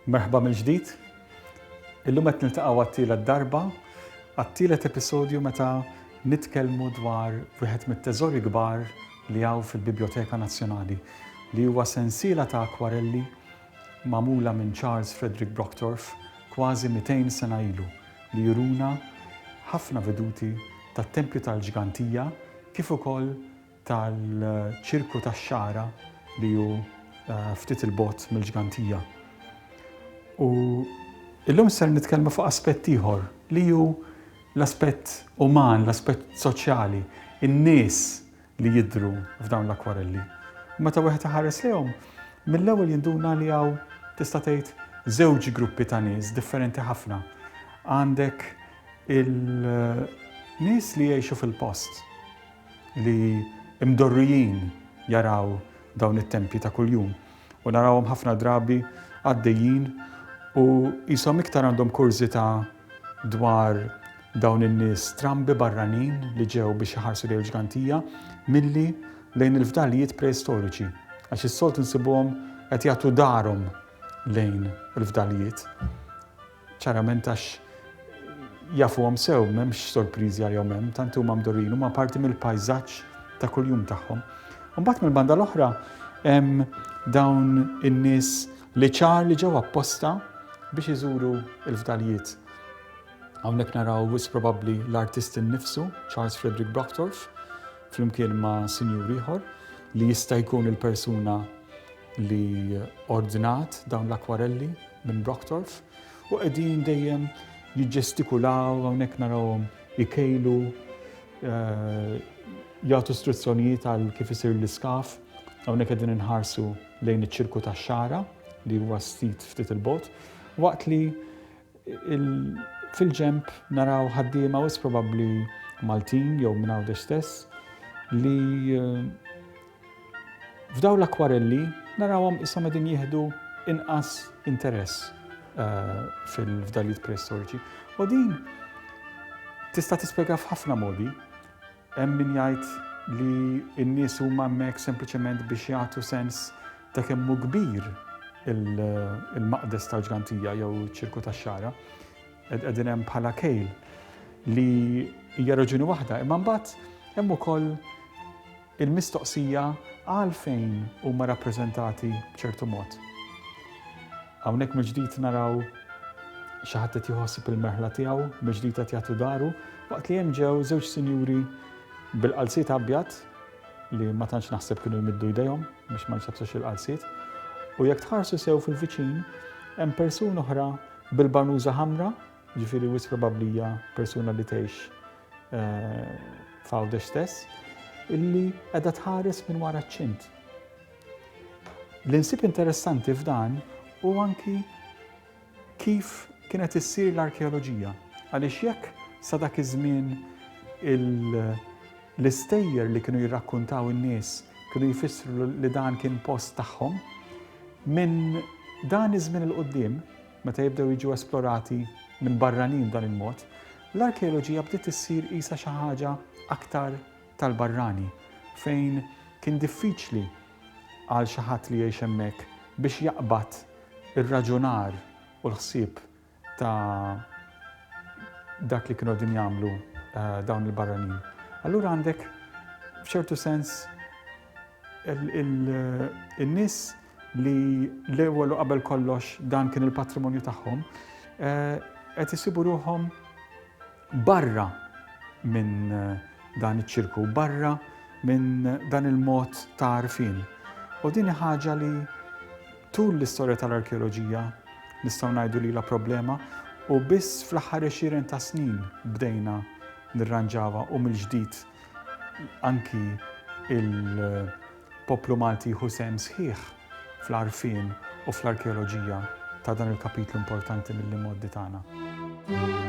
Merħba mill-ġdid. Illum qed niltaqgħu għat-tielet darba, għat-tielet episodju meta nitkellmu dwar wieħed mit-teżori kbar li hawn fil-Biblioteka Nazzjonali, li huwa sensiela ta' akwarelli magħmula minn Charles Frederick Brocktorff kważi 200 sena ilu li juruna ħafna veduti tat-tempju tal-ġgantija kif ukoll tal-ċirku tax-xagħra li hu ftit 'il bogħod mill-ġgantija. U illum ser nitkellmu fuq aspett ieħor li hu l-aspett uman, l-aspett soċjali, in-nies li jidhru f'dawn l-akkwarelli. U meta wieħed iħares lejhom, mill-ewwel jinduna li hawn tista' tgħid żewġ gruppi ta' nies differenti ħafna. Għandek il-nies li jgħixu fil-post li mdorrijin jaraw dawn it-tempji ta' kuljum. u narawhom ħafna drabi għaddejjin u qishom iktar għandhom kurżità dwar dawn in-nies strambi barranin li ġew biex iħarsu lejn il-ġgantija milli lejn il-fdalijiet preistoriċi għax is-solt insibuhom qed jagħtu darhom lejn il-fdalijiet. Ċarament għax jafuhom sew, m'hemmx sorpriżi għalihom hemm, tant huma mdorrijin, huma parti mill-pajżaġġ ta' kuljum tagħhom. Imbagħad mill-banda l-oħra hemm dawn in-nies li ċar li ġew apposta biex iżuru l-fdalijiet. Hawnhekk naraw wis probabbli l-artist innifsu, Charles Frederick Brocktorff, flimkien ma' sinjur ieħor li jista' jkun il-persuna li ordnat dawn l-akkwarelli minn Brocktorff u qegħdin dejjem jiġġestikulaw hawnhekk narawhom ikejlu eh, jagħtu struzzjonijiet għal kif isir l-iskaf hawnhekk qegħdin inħarsu lejn iċ-ċirku tax-xara li huwa stit ftit il-bot waqt li Fil-ġenb naraw ħaddiema wis probabbli Maltin jew minn Għawdex stess li eh, f'daw l-akwarelli narawhom issa qegħdin jieħdu inqas interess eh, fil-fdalijiet preistoriċi. U din tista' tispjega f'ħafna modi. Hemm min jgħid li n-nies huma hemmhekk sempliċement biex jagħtu sens ta' kemm hu kbir il-maqdes tal-ġgantija jew iċ-ċirku tax-xagħra. Qegħdin hemm bħala kejl li hija raġuni waħda, imma mbagħad hemm ukoll il-mistoqsija għalfejn huma rappreżentati b'ċertu mod. Hawnhekk mill-ġdid naraw xi ħadd qed jħossib il-merħla tiegħu, mill-ġdid qed jagħtu daru, waqt li hemm ġew żewġ sinjuri bil-qalziet abjad li ma tantx naħseb kienu jmiddu jdejhom biex ma jsabsux il-qalziet. U jekk tħarsu sew fil-viċin, hemm persuna oħra bil-banuża ħamra, ġifieri wis probablija persuna li tgħix eh, f'għawdex stess, illi qiegħda tħares minn wara ċ-ċint. Li nsib interessanti f'dan hu anki kif kienet issir l-arkeoloġija għaliex jekk sa dak iż-żmien l-istejjer li kienu jirrakkuntaw in-nies kienu jfissru li dan kien post tagħhom, minn dan iż-żmien 'il quddiem, meta jibdew jiġu esplorati minn barranin b'dan il-mod, l-arkeoloġija bdiet issir qisha xi ħaġa aktar tal-barrani, fejn kien diffiċli għal xi ħadd li jgħix hemmhekk biex jaqbad ir-raġunar u l-ħsieb ta' dak li kienu qegħdin jagħmlu dawn il-barranin. Allura għandek f'ċertu sens il-nis li l-ewwel u qabel kollox dan kien il-patrimonju tagħhom eh, qed isibu ruhom Barra minn dan iċ-ċirku, barra minn dan il-mod ta' għarfien. U din hi ħaġa li tul l-istorja tal-arkeoloġija nistgħu ngħidu li ilha problema u biss fl-aħħar għexieren ta' snin bdejna nirranġawha u mill-ġdid anki il- Poplu Malti jieħu sehem sħiħ fl-għarfien u fl-arkeoloġija ta' dan il-kapitlu importanti mill-imgħoddi tagħna.